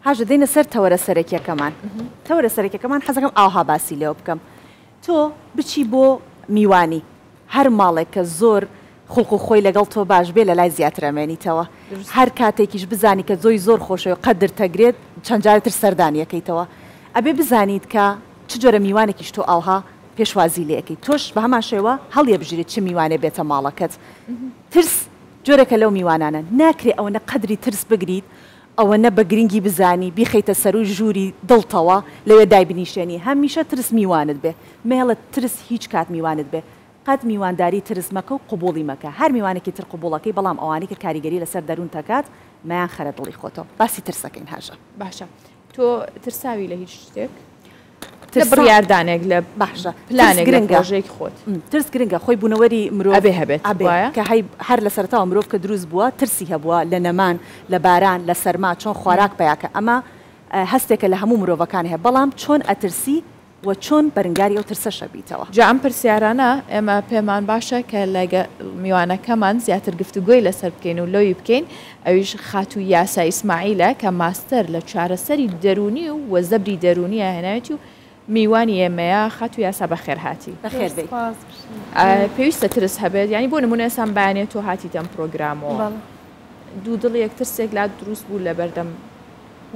هاژە دێنە سەر تەوەرە سەرەکیەکەمان تەوەرە سەرەکەکەمان حەزەکەم ئاوها باسی لێوە بکەم تۆ بچی بۆ میوانی هەر ماڵێک کە زۆر خوڵق و خۆی لەگەڵ تۆ باش بێ لە لای زیاترەمێنیتەوە هەر کاتێکیش بزانی کە زۆی زۆر خۆشەوە قەدر تەگرێت چەند جارتر سەردانیەکەیتەوە ئەبێ بزانیت کە چ جۆرە میوانێکیش تۆ ئاها پێشوازی لەکەی تۆش بە هەمان شێوە هەڵیە بژیرێت چ میوانێ بێتە ماڵەکەت ترس جۆرەکە لەو میوانانە ناکرێ ئەوەنە قەدری ترس بگریت ئەوەنە بە گرنگی بزانی بیخەیتە سەرووی ژووری دڵتەوە لەوێ دایبنیشێنی هەمیشە ترس میوانت بێ مەیەڵە ترس هیچ کات میوانت بێ قەت میوانداری ترس مەکە و قبوڵی مەکە هەر میوانێکی تر قبوڵەکەی بەڵام ئەوانەی کە کاریگەری لەسەر دەروونتەکات مەیان خەرە دڵی خۆتەوە باسی ترسەکەین هاژە. باشە تۆ ترساوی لە هیچ شتێک لە بڕیاردانێک لە بەحشە پلانێک گرنگژێکی خۆت ترس گرنگە خۆی بوونەوەری مرۆڤێ هەبێت کە هەر لە سەرتاوە مرۆڤ کە دروست بووە ترسی هەبووە لە نەمان لە باران لە سەرما چۆن خۆراک پیاکە ئەمە هەستێکە لە هەموو مرۆڤەکان هەیە بەڵام چۆن ئەترسی وە چۆن بەرنگاری ئەو ترسەشە بیتەوە؟ جا ئەم پرسیارانە ئێمە پێمان باشە کە لەگەڵ میوانەکەمان زیاتر گفتوگۆی لەسەر بکەین و لۆی بکەین، ئەویش خاتوو یاسا ئیسماعیلە کە ماستەر لە چارەسەری دەروونی و وە زەبری دەروونیە هێناوێتی و میوانی ئێمەیە، خاتوو یاسا بەخێرهاتی. بەخێر بێی. پێویستە ترس هەبێت؟ یانی بۆ نموونە ئێستا ئەم بەیانیە تۆ هاتیتە ئەم پرۆگرامەوە دوو دڵێک ترسێک لات دروست بوو لەبەردەم،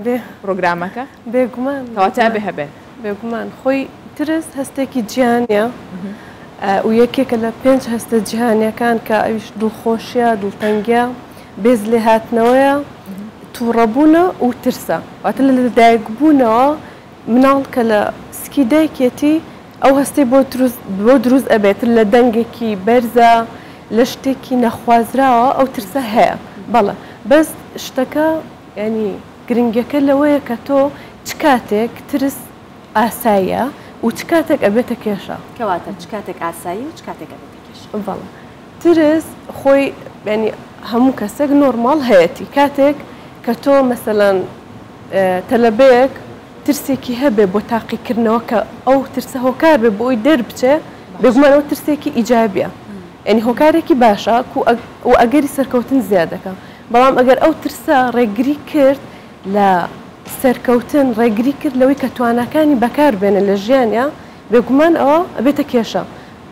بێ پرۆگرامەکە بێگومان کەواتە بێ هەبێت بێگومان خۆی ترس هەستێکی جیانە و یەکێکە لە پێنج هەستە جیهانیەکان کە ئەویش دڵخۆشیە دڵتەنگە بێز لێ هاتنەوەیە تووڕەبوونە و ترسە واتە لە لەدایک بوونەوە مناڵ کە لە سکی دایکێتی ئەو هەستی بۆ بۆ دروست ئەبێت لە دەنگێکی بەرزە لە شتێکی نەخوازراوە ئەو ترسە هەیە بەڵە بەس شتەکە یانی گرنگیەکە لەوەیە کە تۆ چ کاتێک ترس ئاساییە و چ کاتێک ئەبێتە کێشە. کەواتە چ کاتێک ئاساییە و چ کاتێک ئەبێتە کێشە. بەڵێ ترس خۆی یانی هەموو کەسێک نۆرماڵ هەیەتی کاتێک کە تۆ مەسەلەن تەلەبەیەک ترسێکی هەبێ بۆ تاقیکردنەوە کە ئەو ترسە هۆکار بێ بۆی دەربچێ بێگومان ئەو ترسێکی ئیجابیە یانی هۆکارێکی باشە کو و ئەگەری سەرکەوتن زیادەکە. بەڵام ئەگەر ئەو ترسە ڕێگری کرد لە سەرکەوتن، ڕێگری کرد لەوەی کە تواناکانی بەکار بێنێت لە ژیانیا، بێگومان ئەوە ئەبێتە کێشە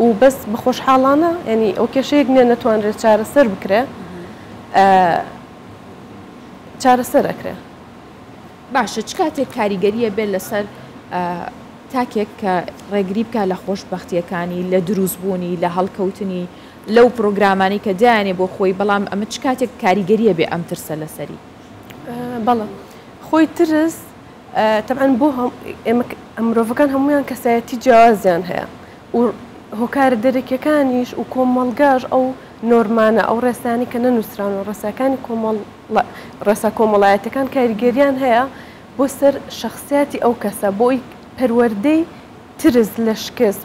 و بەس بە خۆشحاڵانە یانی ئەو کێشەیەک نیە نەتوانرێت چارەسەر بکرێت ئە چارەسەر ئەکرێت. باشە چ کاتێک کاریگەری ئەبێت لەسەر ئە تاکێک کە ڕێگری بکات لە خۆشبەختیەکانی، لە دروست بوونی، لە هەڵکەوتنی؟ لەو پڕۆگرامانەی کە دایەنێ بۆ خۆی، بەڵام ئەمە چ کاتێک کاریگەری ئەبێ ئەم ترسە لەسەری؟ بەڵێ خۆی ترس تەبعەن بۆ مرۆڤەکان هەمویان کەسایەتی جیازیان هەیە و هۆکارە دەرەکیەکانیش و کۆمەڵگاش ئەو نۆرمانە ئەو ڕێسانی کە نەنووسراون و ڕێساکانی کۆمەڵ ڕێسا کۆمەڵایەتەکان کاریگەریان هەیە بۆ سەر شخصیاتی ئەو کەسە بۆی پەروەردەی ترس لە شکست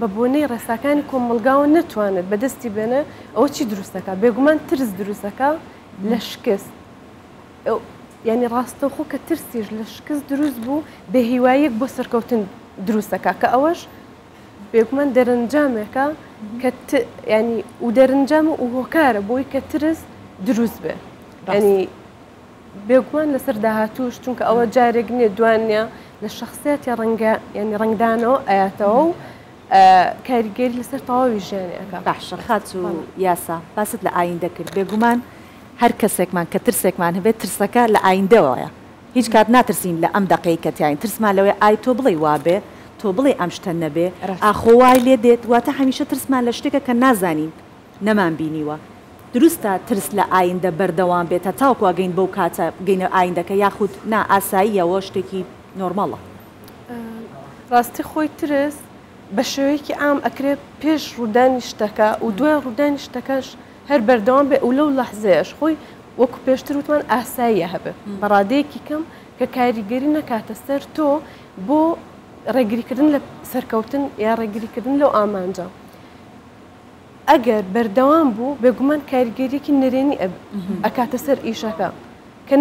بە بۆنەی ڕێساکانی کۆمەڵگاوە نەتوانێت بەدەستی بێنێ ئەوە چی دروست دەکات بێگومان ترس دروست دەکات لە شکست یعنی ڕاستەوخۆ کە ترسیش لە شکست دروست بوو بێهیواییەک بۆ سەرکەوتن دروست دەکات کە ئەوەش بێگومان دەرەنجامێکە کە ینی و دەرنجام و هۆکارە بۆی کە ترس دروست بێ ینی بێگومان لەسەر داهاتوش چونکە ئەوە جارێک نیە دوانە لە شخصیەتی ڕەنگە ینی ڕنگدانەوە ئەاتەوە و کاریگەری لەسەر تەواوی ژیانی ئەەکە باشە خاچ و یاسا باست لە ئاین دەکرد بێگومان هەر کەسێکمان کە ترسێکمان هەبێت ترسەکە لە ئایندەوەیە هیچ کات ناترسین لە ئەم دەقەی کە تین ترسمان لەوەی ئای تۆ بڵێ وابێ تۆ بڵێ ئەم شتە نەبێ ئاخۆ وای لێ دێت واتە هەمیشە ترسمان لە شتێکە کە نازانین نەمان بینیوە دروستە ترس لە ئایندە بەردەوام بێت هەتاوەکو ئەگەین بەو کاتە بگەینە ئایندەکە یاخود نا ئاساییە وە شتێکی نۆرماڵە. ڕاستی خۆی ترس بە شێوەیەکی عام ئەکرێ پێش ڕوودانی شتەکە و دوای ڕوودانی شتەکەش هەر بەردەوام بێ و لەو لەحزەیەش خۆی وەکو پێشتر وتمان ئاساییە هەبێ بە ڕادەیەکی کەم کە کاریگەری نەکاتە سەر تۆ بۆ ڕێگریکردن لە سەرکەوتن یا ڕێگریکردن لەو ئامانجە ئەگەر بەردەوام بوو بێگومان کاریگەریەکی نەرێنی ئەکاتە سەر ئیشەکە کە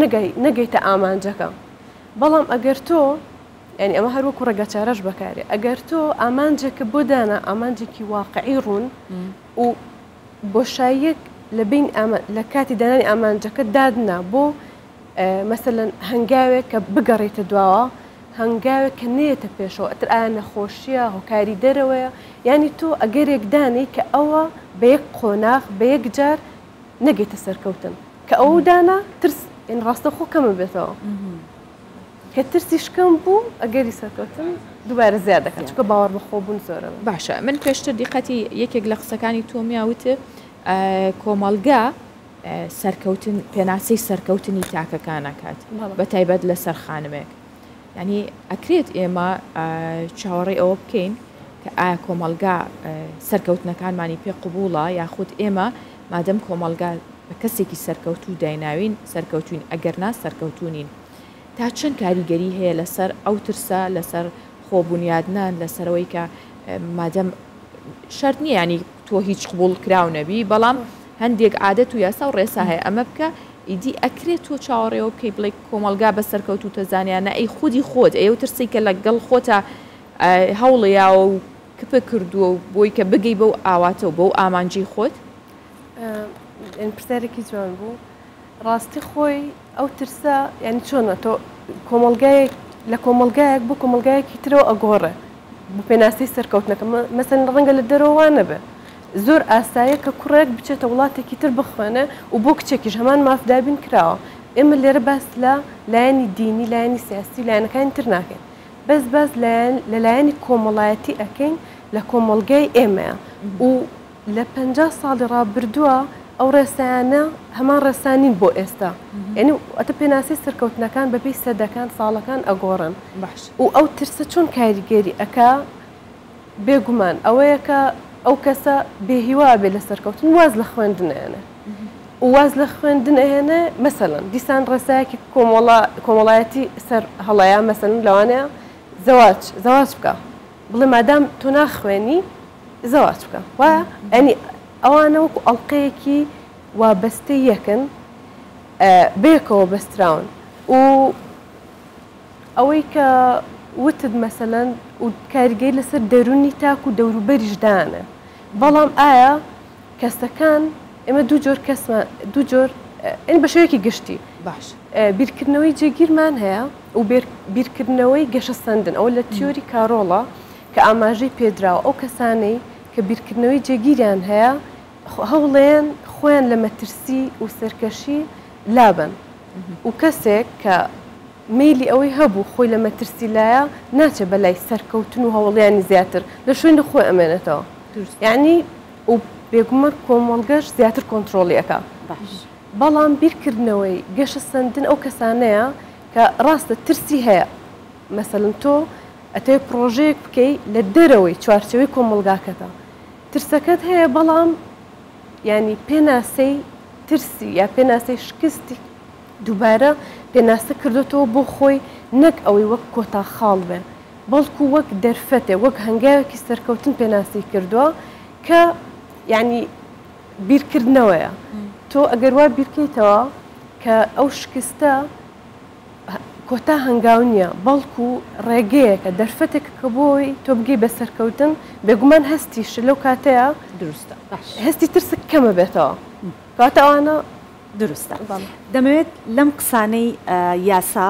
نەگەیتە ئامانجەکە بەڵام ئەگەر تۆ ینی ئەمە هەروەکو ڕێگە چارەش بەکارێ ئەگەر تۆ ئامانجێکە بۆ دانا ئامانجێکی واقعی ڕوون و بۆشاییەک لە بین لە کاتی دانانی ئامانجەکە دادنا بۆ مەسەلەن هەنگاوێک کە بگەڕێیتە دواوە، هەنگاوێک کە نەیەتە پێشەوە، ئەتر ئایا نەخۆشییە، هۆکاری دەرەوەیە، یانی تۆ ئەگەرێک دانێی کە ئەوە بە یەک قۆناغ، بە یەک جار نەگەیتە سەرکەوتن، کە ئەوەو دانا ترس، یانی ڕاستەوخۆ کەم ئەبێتەوە، کە ترسیش کەم بوو، ئەگەری سەرکەوتن دووبارە زیاد دەکات، چونکە باوەڕ بە خۆ بوون زۆر ئەبێت. باشە من پێشتر دیقەتی یەکێک لە قسەکانی تۆمیا وتت کۆمەڵگا سەرکەوتن پێناسەی سەرکەوتنی تاکەکان ئەکات بە تایبەت لەسەر خانمێک ینی ئەکرێت ئێمە چاوەڕێ ئەوە بکەین کە ئایا کۆمەلگا سەرکەوتنەکانمانی پێ قوبوڵە یاخود ئێمە مادەم کۆمەلگا بە کەسێکی سەرکەوتوو دایناوین سەرکەوتوین ئەگەر نا سەرکەوتونین تا چەند کاریگەری هەیە لەسەر ئەو ترسە لەسەر خۆبوونیادنان لەسەرەوەی کە مادەم شەرت نییە ینی تۆ هیچ قوبول کراو نەبی بەڵام هەندێک عادەت و یاسا و ڕێسا هەیە ئەمە بکە ئیدی ئەکرێ تۆ چاوەڕێوە بکەی بڵێی کۆمەڵگا بە سەرکەوتووتە زانیان نا ئەی خودی خۆت ئەی ئەو ترسەی کە لە گەڵ خۆتا هەوڵ یاوە و کپک کردووە و بۆی کە بگەی بەو ئاواتە و بەو ئامانجی خۆت. ئەم پرسیارێکی جوان بوو. ڕاستی خۆی ئەو ترسە یانی چۆنە تۆ کۆمەڵگایەک لە کۆمەڵگایەک بۆ کۆمەڵگایەکی ترەوە ئەگۆڕێ بۆ پێناسەی سەرکەوتنەکە مەسەن ڕەنگە لە دەرەوە وا نەبێ زۆر ئاسایە کە کوڕێک بچێتە وڵاتێکی تر بخوێنێ و بۆ کچێکیش هەمان مافدابین کراوە ئێمە لێرە باس لە لایەنی دینی لایەنی سیاسی و لایەنەکانی تر ناکەین بەس باس لە لایەنی کۆمەڵایەتی ئەکەین لە کۆمەڵگای ئێمەیە و لە پەنجا ساڵی ڕابردووە ئەو ڕێسایانە هەمان ڕێسا نین بۆ ئێستا یعنی ئەتە پێناسی سەرکەوتنەکان بەپی سەدەکان ساڵەکان ئەگۆڕن بەش و ئەو ترسە چۆن کاریگەری ئەک بێگومان ئەوەیە کە ئەو کەسە بێهیوابێ لە سەرکەوتن واز لە خوێندنێنە واز لە خوێندن ئەهێنە مەسەن دیسان ڕێسایەکی کۆمەڵە کۆمەڵایەتی سەر هەڵەیە مەسەن لەوانەیە زەواج زەواج بکە بڵێ مادام تۆ ناخوێنی زەواج بکە وا ئەنی ئەوانە وەکو ئەڵلقەیەکی وابەستە یەکن بێکەوە بەستراون و ئەوەی کە وتت مەسەەن و کاریگەی لەسەر دەرونی تاک و دەوروبەریشدانە بەڵام ئایا کەسەکان ئێمە دوو جۆر کەسمان دوو جۆر ئەنی بە شوێکی گشتی باش بیرکردنەوەی جێگیرمان هەیە و بیرکردنەوەی گەشەسەندن، ئەوە لە تیۆری کارۆڵە کە ئاماژەی پێدراوە، ئەو کەسانەی کە بیرکردنەوەی جێگیریان هەیە هەوڵێن خۆیان لە مەترسی و سەرکەشی لابەن و کەسێک کە مەیلی ئەوەی هەبوو خۆی لە مەترسی لایە ناچێت بەلای سەرکەوتن و هەوڵیانی زیاتر لە شوێنی خۆی ئەمێنێتەوە یانی و بێگومان کۆمەڵگەش زیاتر کۆنترۆڵی ئەکا. بەڵام بیرکردنەوەی گەشەسەندن ئەو کەسانەیە کە ڕاستە ترسی هەیە مەسەلەن تۆ ئەتەوێ پڕۆژەیەک بکەی لە دەرەوەی چوارچێوەی کۆمەڵگاکەتە ترسەکەت هەیە بەڵام یانی پێناسەی ترسی یا پێناسەی شکستی دووبارە پێناسە کردوتەوە بۆ خۆی نەک ئەوەی وەک کۆتا خاڵ بێ بەڵکو وەک دەرفەتێ وەک هەنگاوێکی سەرکەوتن پێناسی کردووە کە یانی بیرکردنەوەیە تۆ ئەگەر وا بیرکەیتەوە کە ئەو شکستە کۆتا هەنگاو نییە بەڵکو ڕێگەیەکە دەرفەتێک کە بۆی تۆ بگەی بە سەرکەوتن بێگومان هەستیش لەو کاتەیە دروستە هەستی ترسک کەمە بێتەوە کاتە ئەوانە دروستە دەمەوێت لەم قسانەی یاسا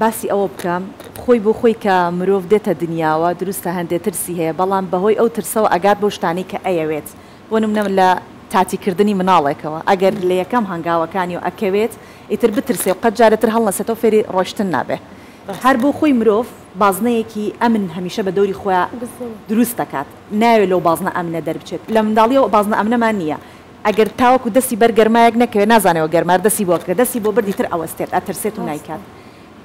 باسی ئەوە بکەم خۆی بۆ خۆی کە مرۆڤ دێتە دنیاوە دروستە هەندێ ترسی هەیە بەڵام بەهۆی ئەو ترسەوە ئەگات بۆ شتانی کە ئەیەوێت بۆ نمونە لە تاتی کردنی مناڵێکەوە ئەگەر لە یەکەم هەنگاوەکانیەوە ئەکەوێت ئیتر بترسێ و قەت جارە تر هەڵنەسێتەوە فێری ڕۆشتن نابێ هەر بۆ خۆی مرۆڤ بازنەیەکی ئەمن هەمیشە بە دەوری خۆیا دروست دەکات نایەوێت لەو بازنە ئەمنە دەربچێت لە منداڵیەوە ئەو بازنە ئەمنەمان نیە ئەگەر تاوەکو دەستی بەر گەرمایەک نەکەوێت نازانێ وە گەرمار دەستی بۆ کرد دەستی بۆ برد ئیتر ئەوەستێت ئەترسێت و نایکات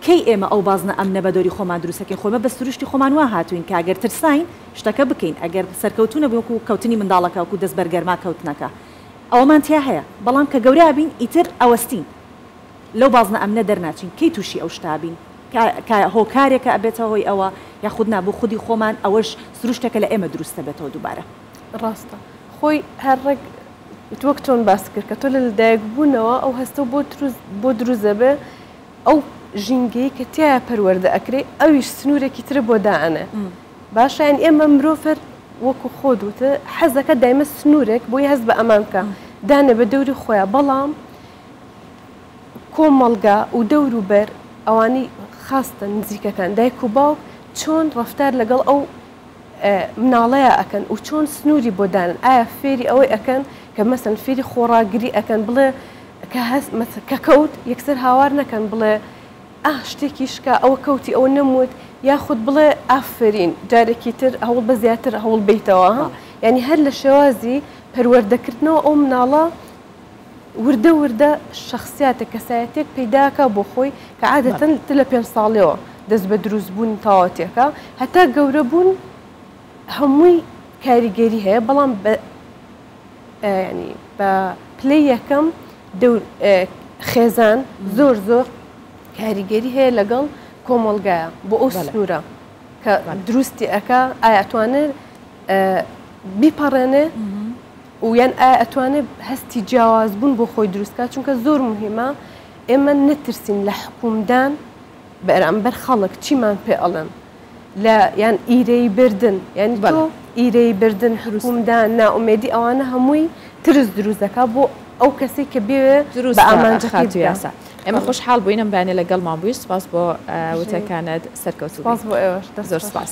کەی ئێمە ئەو بازنە ئەمنە بەدۆری خۆمان دروست ئەکەین خۆ ئێمە بە سروشتی خۆمان وا هاتوین کە گەر ترساین شتەکە بکەین ئەگەر سەرکەوتو نەبوین وەکو کەوتنی منداڵەکە وەکو دەست بەر گەرما کەوتنەکە ئەوەمان تیا هەیە بەڵام کە گەورە ئەبین ئیتر ئەوەستین لەو بازنە ئەمنە دەرناچین کەی توشی ئەو شتە ئەبین کە کە هۆکارێکە ئەبێتە هۆی ئەوە یاخود نا بۆ خودی خۆمان ئەوەش سروشتێکە لە ئێمە دروست ئەبێتەوە دوبارە. ڕاستە خۆی هەر ڕێک وەک چۆن باست کرد کە تۆ لە لەدایک بونەوە ئەو هەستەو بۆ تروست بۆ دروست ئەبێ ئەو ژینگەی کە تیایا پەروەردە ئەکرێ ئەویش سنوورێکی ترە بۆ دائەنێ باشە یان ئێمە مرۆڤ هەر وەکو خۆت وتە حەزەکە دایمە سنوورێک بۆی هەست بە ئەمان بکە دانێ بە دەوری خۆیان بەڵام کۆمەڵگا و دەور و بەر ئەوانەی خاستە نزیکەکان دایک و باوک چۆن ڕفتار لەگەڵ ئەو مناڵەیا ئەکەن و چۆن سنوری بۆ دانن ئایا فێری ئەوەی ئەکەن کە مەسەن فێری خۆڕاگری ئەکەن بڵێ کە هەست مەسە کە کەوت یەکسەر هاوار نەکەن بڵێ ئاه شتێکی شکا ئەوە کەوتی ئەوە نەموت یاخود بڵێ ئافەرین جارێکی تر هەوڵ بە زیاتر هەوڵ بەیتەوە ها یانی هەر لە شێوازی پەروەردەکردنەوە ئەو مناڵە وردە وردە شەخسیاتێک، کەسایەتیەک پەیدا ئەکا بۆ خۆی کە عادەتەن تە لە پێنج ساڵیەوە دەست بە دروست بوونی تەواوەتی ئەکا هەتا گەورە بوون هەمووی کاریگەری هەیە بەڵام بە یانی بە پلەی یەکەم خێزان زۆر زۆر کاریگەری هەیە لەگەڵ کۆمەڵگایە بۆ ئەو سنوورە کە دروستی ئەکا ئایا توانێت بیپەڕێنێ و یان ئایا ئەتوانێ هەستی جیاواز بوون بۆ خۆی دروست کات چونکە زۆر موهیمە ئێمە نەترسین لە حکومدان بەرامبەر خەڵک چیمان پێ ئەڵێن لە یان ئیرەیی بردن یانی تۆ ئیرەیی بردن حکومدان نائومێدی ئەوانە هەمووی ترس دروست دەکا بۆ ئەو کەسەی کە بێێ بە ئامانجەکەی بگا. ئێمە خۆشحاڵ بووین ئەم بەیانە لە گەڵمان بووی سوپاس بۆ وتەکانت سەرکەوتوو بی. سوپاس بۆ ئێوەش دەست خۆش. زۆر سوپاس.